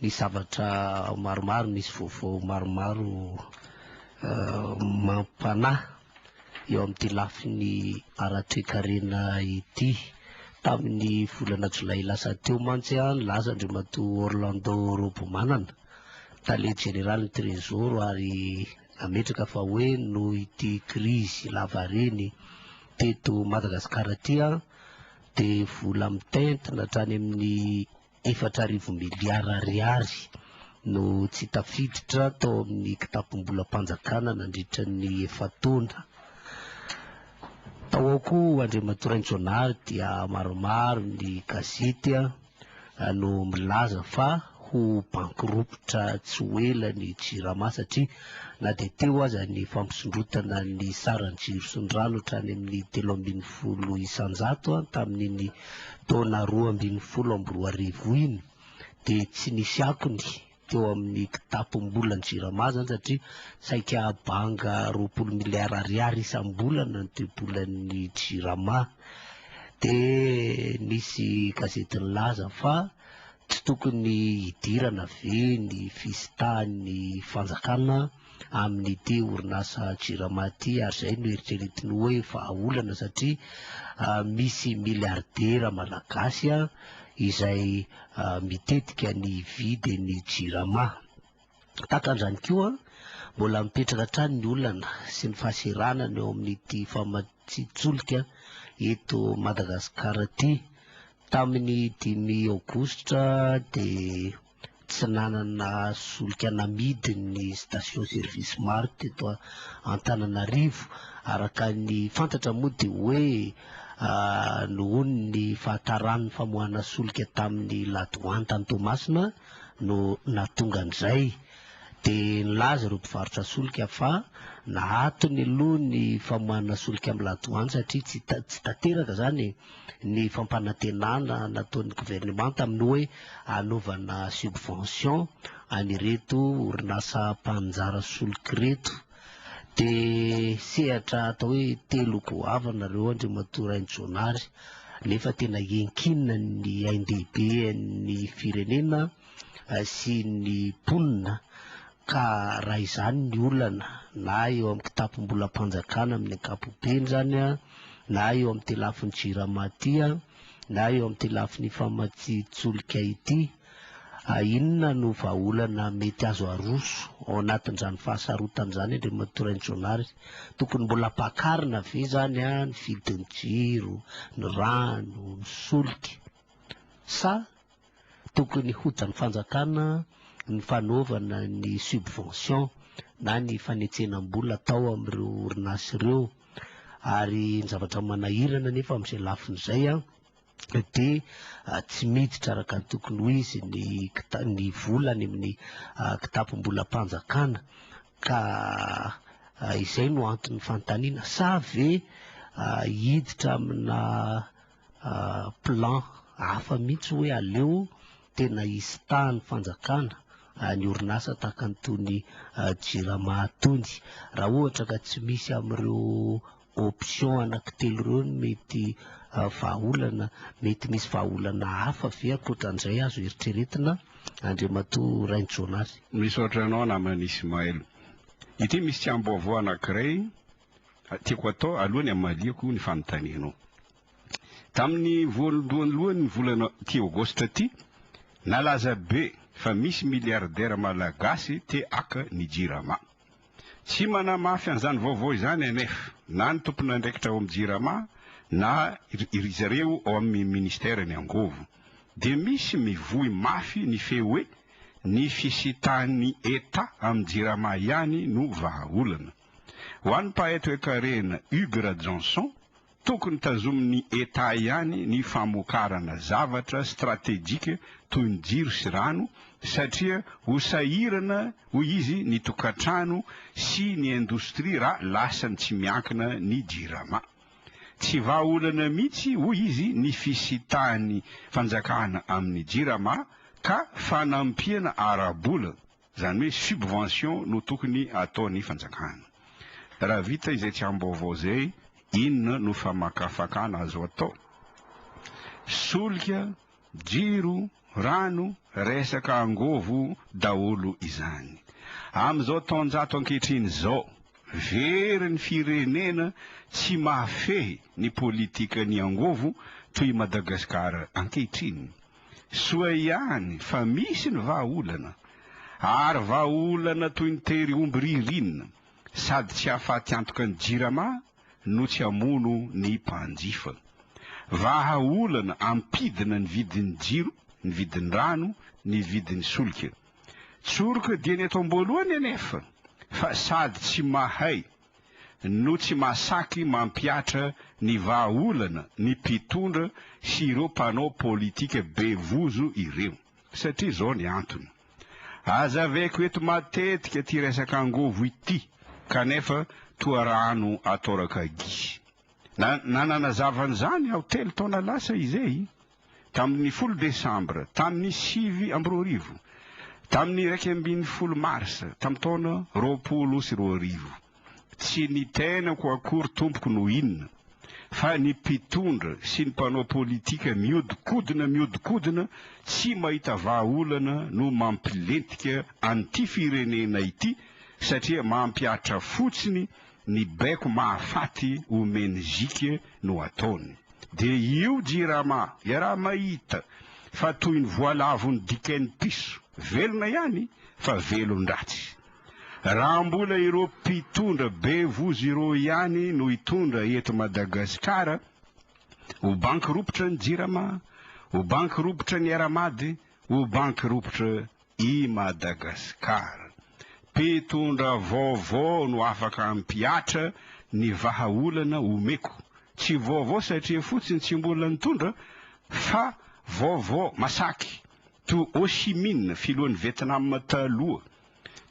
Misy zavatra maromaro, misy vaovao maromaro mampanahy eo amin'ity lafiny ara-toekarena ity. Tamin'ny volana jolay lasa teo mantsy no nilaza Andriamatoa Orlando Robomanana, tale jeneralin'ny Trésor ary nametraka fa hoe noho ity krizy lavareny teto Madagasikara ity dia vola mitentina hatrany amin'ny Efatra arivo miliara ariary no tsy tafiditra tao amin'ny kitapom-bolam-panjakana nandritra ny efa-taona. Tao ao koa, Andriamatoa Raintsonary, dia maromaro ny gazety no milaza fa ho banky ropitra tsy ho ela ny Jirama satria na dia teo aza ny fampisondrotana ny saran'ny jiro sy ny rano hatrany amin'ny telo ambin'ny folo isan-jato tamin'iny taona roa ambin'ny folo amby roa arivo iny dia tsy nisy akony teo amin'ny kitapom-bolan'ny Jirama izany satria saika banga roapolo miliara ariary isam-bolana ny toe-bolan'ny Jirama. Dia nisy gazety nilaza fa tsy tokony hidirana ve ny fisitahan'ny fanjakana amin'ity orinasa Jirama ity ary izay no eritreretiny hoe vahaolana satria misy miliaridera malagasy izay mitetika ny hividy ny Jirama. Tahaka an'izany koa, mbola mipetraka hatrany ny olana sy ny fahaseranana eo amin'ity famatsian-tsolika eto Madagasikara ity. Tamin'ny dimy aogositra dia. tsy nanana solika namidy ny station service maro teto Antananarivo. Araka ny fantatra moa dia hoe nohon' ny fahataran' ny famoahana solika tamin' ny La Douane tany Toamasina no nahatonga an' izay. Dia nilaza ireo mpivarotra solika fa nahatony aloha ny famoahana solika amin'ny La Douane satria tsy tsy tanteraka izany e! ny fampanantenana nataon'ny governemanta amin'ny hoe hanaovana subvention an'ireto orinasa mpaninjara solika ireto. Dia sehatra atao hoe telo goavana ireo Andriamatoa Rainijaonary nefa tena iankinina ny ain-dehibe an'ny firenena sy ny mponina Ka raha izany ny olana, na eo amin'ny kitapom-bolam-panjakana amin'ny ankapobeny izany, na eo amin'ity lafiny Jirama ity, na eo amin'ity lafiny famatsian-tsolika ity, inona no vahaolana mety azo aroso ao anatin'izany fahasarotana izany, Andriamatoa Rainijaonary? Tokony mbola ampakarina ve izany ny vidin'ny jiro, ny rano, ny solika, sa Tokony hojanon'ny fanjakana ny fanaovana ny subvention na ny fanetsenam-bola atao amin'ireo orinasa ireo. Ary ny zavatra manahirana anefa amin'izay lafiny izay dia tsy miditra araka ny tokony ho izy ny kita- ny vola any amin'ny kitapom-bolam-panjakana ka izay no anton'ny fanontaniana. Sa ve hiditra amina plan hafa mihitsy hoe aleo tena hisy taha ny fanjakana ny orinasa tahaka an'itony Jirama itony. Raha ohatra ka tsy misy amin'ireo options anankitelo ireo ny mety vahaolana, mety misy vahaolana hafa ve ankoatran'izay azo eritreretina, Andriamatoa Rainijonaly? Misaotra anao namana Ismaël. Ity misy tsiambaovao anankiray Tiako atao aloha ny hamaliako ny fanontanianao. Tamin'ny voalohandohan'ny volana ity Aogositra ity, nalaza be fa misy miliaridera malagasy te haka ny Jirama. Tsy manamafy an'izany vaovao izany NF, na ny tompon'andraikitra ao amin'ny Jirama na ry zareo ao amin'ny minisiteran'ny Angovo. Dia misy mivoy mafy ny feo hoe ny fisitahan'ny Etat amin'ny Jirama ihany no vahaolana. Ho an'ny mpahay toekarena Hugues Rajanson, tokony tazomin'ny Etat ihany ny famokarana zavatra stratejika toy ny jiro sy rano satria ho sahirana hoy izy ny tokantrano sy ny indostria raha lasany tsy miankina ny Jirama. Tsy vahaolana mihitsy hoy izy ny fisitahan'ny fanjakana amin'ny Jirama ka fanampiana ara-bola Izany hoe subvention no tokony ataon'ny fanjakana. Raha vita izay tsambaovao izay, inona no famakafakana azo atao? Solika, jiro, rano, resaka angovo daholo izany. Amin'izao taonjato ankehitriny izao, very ny firenena tsy mahafehy ny politikan'ny angovo toy i Madagasikara ankehitriny. Soa ihany fa misy ny vahaolana, ary vahaolana toy ny tery omby ririnina, sady tsy hahafaty antoka ny Jirama no tsy hamono ny mpanjifa. Vahaolana ampidina ny vidin'ny jiro, ny vidin'ny rano, ny vidin'ny solika. Tsoroka dieny eto am-boalohany anefa fa sady tsy mahay, no tsy mahasaky mampihatra ny vahaolana ny mpitondra sy ireo mpanao politika be vozo ireo. Satria izao ny antony. Hazaveko eto matetika ity resaka angovo ity kanefa toa rano atoraka gisy. Na nanazava an'izany aho telo taona lasa izay. tamin'ny folo desambra tamin'ny sivy amby roa arivo, tamin'ny iraika ambin'ny folo marsa tamin'ny taona roapolo sy roa arivo. Tsy ny tenako akory tompoko no inona, fa ny mpitondra sy ny mpanao politika miodikodina miodikodina tsy mahita vahaolana no mampilentika an'ity firenena ity satria mampihatra fotsiny Ny baiko mahafaty ou menzique no ataony. Dia io jirama iaraha mahita fa toy ny voalavon'ny dikain'ny piso, velona ihany fa velon-dratsy. Raha mbola ireo mpitondra be vozo ireo ihany no hitondra eto Madagasikara, ho banky ropitra ny jirama, ho banky ropitra ny Aramady, ho banky ropitra I Madagascar. Mpitondra vaovao no afaka hampihatra ny vahaolana omeko. Tsy vaovao satria fotsiny tsy mbola nitondra fa vaovao masaky. Toa Ho Chi Minh, filohan'i Vietnam taloha.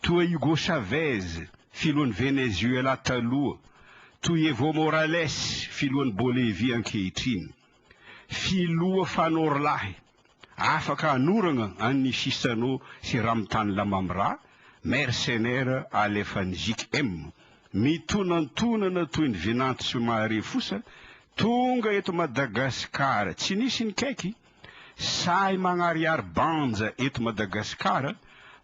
Toa Hugo Chavez, filohan'i Venezuela taloha. Toa Evo Morales, filohan'i Bolivia ankehitriny. Filoha fanorolahy. Afaka hanoragna an ny sisanao sy Ramtany Lamamra, mercenaire alefan'ny JKM. Mitonantonana toy ny vinanto sy mahare fosa, tonga eto Madagascar tsy nisy nikaiky, sahy magnariary banja eto Madagascar,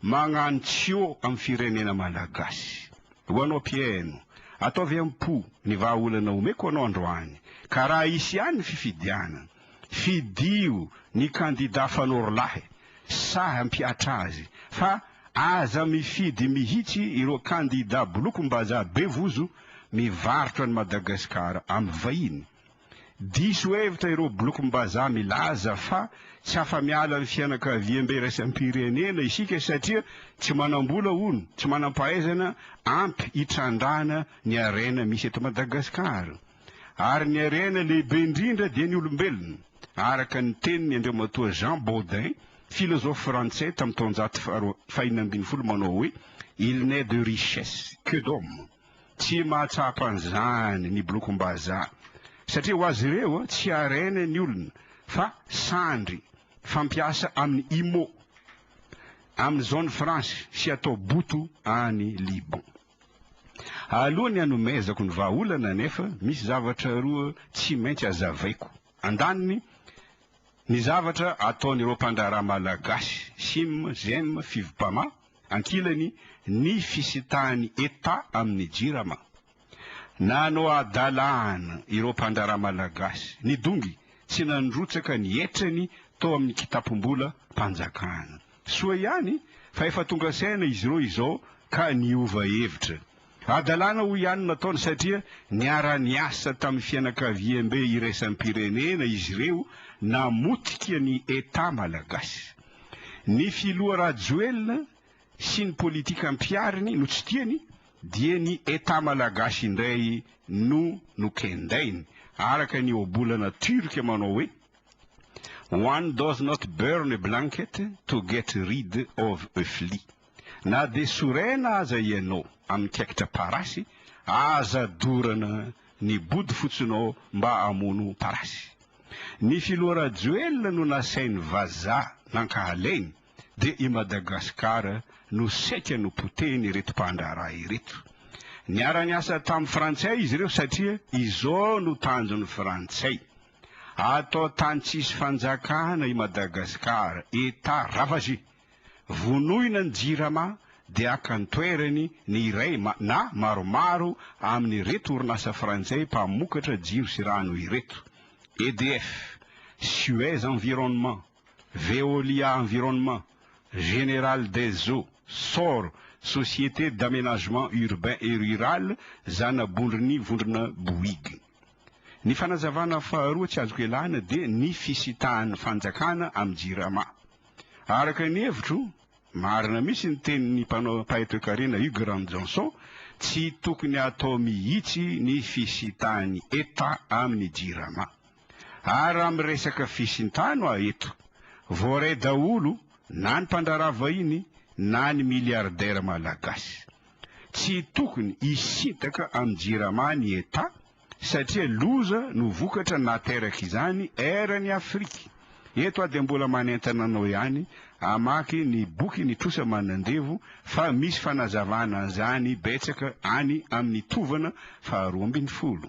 magnano tsio am firenena Malagasy. Ho anao mpihaino, ataovy am po ny vahaolana omeko anao androany, ka raha hisy ihany ny fifidianana, Fidio ny kandida fanorolahy sahy hampihatra azy fa aza mifidy mihitsy ireo kandida bolokom-bazaha be vozo mivarotra an'i Madagasikara amin'ny vahiny. Diso hevitra ireo bolokom-bazaha milaza fa tsy afa-miala amin'ny fianakaviambe iraisam-pirenena isika satria tsy manam-bola hono, tsy manam-pahaizana ampy hitrandrahana ny harena misy eto Madagasikara. ary ny harena lehibe indrindra dia ny olombelona, araka ny tenin' Andriamatoa Jean Bodin, filôzôfy frantsay tamin'ny taonjato faharoa fahina ambin'ny folo manao hoe, Il n'est de richesse que d'hommes, tsy mahatsapa an'izany ny Bolokom-bazaha, satria ho azy ireo tsy harena ny olona fa sandry fampiasa amin'ny Imo, amin'ny Zone Franche sy atao boto any Liban. Alohan'ny hanomezako ny vahaolana anefa, misy zavatra roa tsy maintsy hazavaiko. Andaniny, ny zavatra ataon'ireo mpandraharaha malagasy, Sim, Zem, Fivpama, ankilany, ny fisitahan'ny Eta amin'ny Jirama. Nanao hadalana ireo mpandraharaha malagasy, nidongy, tsy nandrotsaka ny hetrany tao amin'ny kitapom-bolam-panjakana. Soa ihany fa efa tonga saina izy ireo izao ka niova hevitra. Hadalana hoy ihany no nataony satria niara-niasa tamin'ny fianakaviambe iraisam-pirenena izy ireo namotika ny Etat malagasy. Ny filoha Rajoelina sy ny politika ampihariny no tsy tiany dia ny Etat malagasy indray no nokendainy, araka ny ohabolana turc manao hoe. One does not burn a blanket to get rid of a flea. Na dia sorena aza ianao amin'ny kaikitra parasy, aza dorana ny bodofotsonao mba hamono parasy. Ny filoha Rajoelina no nasainy vazaha nankahalainy dia i Madagascar no saika nopotehin'ireto mpandraharaha ireto. Niara-niasa tamin'ny frantsay izy ireo satria izao no tanjon'ny frantsay. Ato tany tsisy fanjakana i Madagascar Etat ravage. Vonoina ny jirama de aka ny toerany ny iray na maromaro aminy reto orinasa frantsay mpamokatra jiro sy rano ireto, EDF, Suez environnement, Veolia environnement, General des eaux, Sor, Société d'amenagement urbain et rural, Zanabondrony Vondrona Bouygues. Ny fanazavana faharoa tsy azoko ialana dia ny fisitahan'ny fanjakana amin'ny jirama. Araka ny hevitro, marina mihitsy ny tenin'ny mpanao mpahay-toekarena Hugues Ranonjaonson, tsy tokony hatao mihitsy ny fisitahan'ny Etat amin'ny jirama. Ary raha miresaka fisintahano aho eto, voaray daholo na ny mpandraharaha vahiny na ny milliardaires malagasy. Tsy tokony hisintaka amin'ny Jirama ny Etat satria loza no vokatra naterak'izany eran'i Afrika. Eto aho dia mbola manentana anao ihany hamaky ny bokin'ny trosa manandevo fa misy fanazavana an'izany betsaka any amin'ny tovana faharoa ambin'ny folo.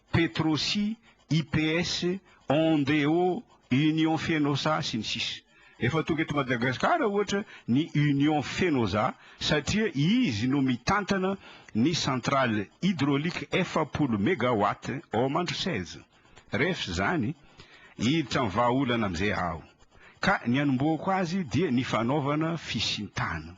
Petrosi, IPS, Ondeo, Union Fenosa, sy ny sisa Efa tonga eto Madagasikara ohatra ny Union Fenosa satria izy no mitantana ny centrale hydraulique efapolo megawatt ao Mandroseza. Ref izany, hiditra amin'ny vahaolana amin'izay aho. Ka ny hanombohako azy dia ny fanaovana fisintana.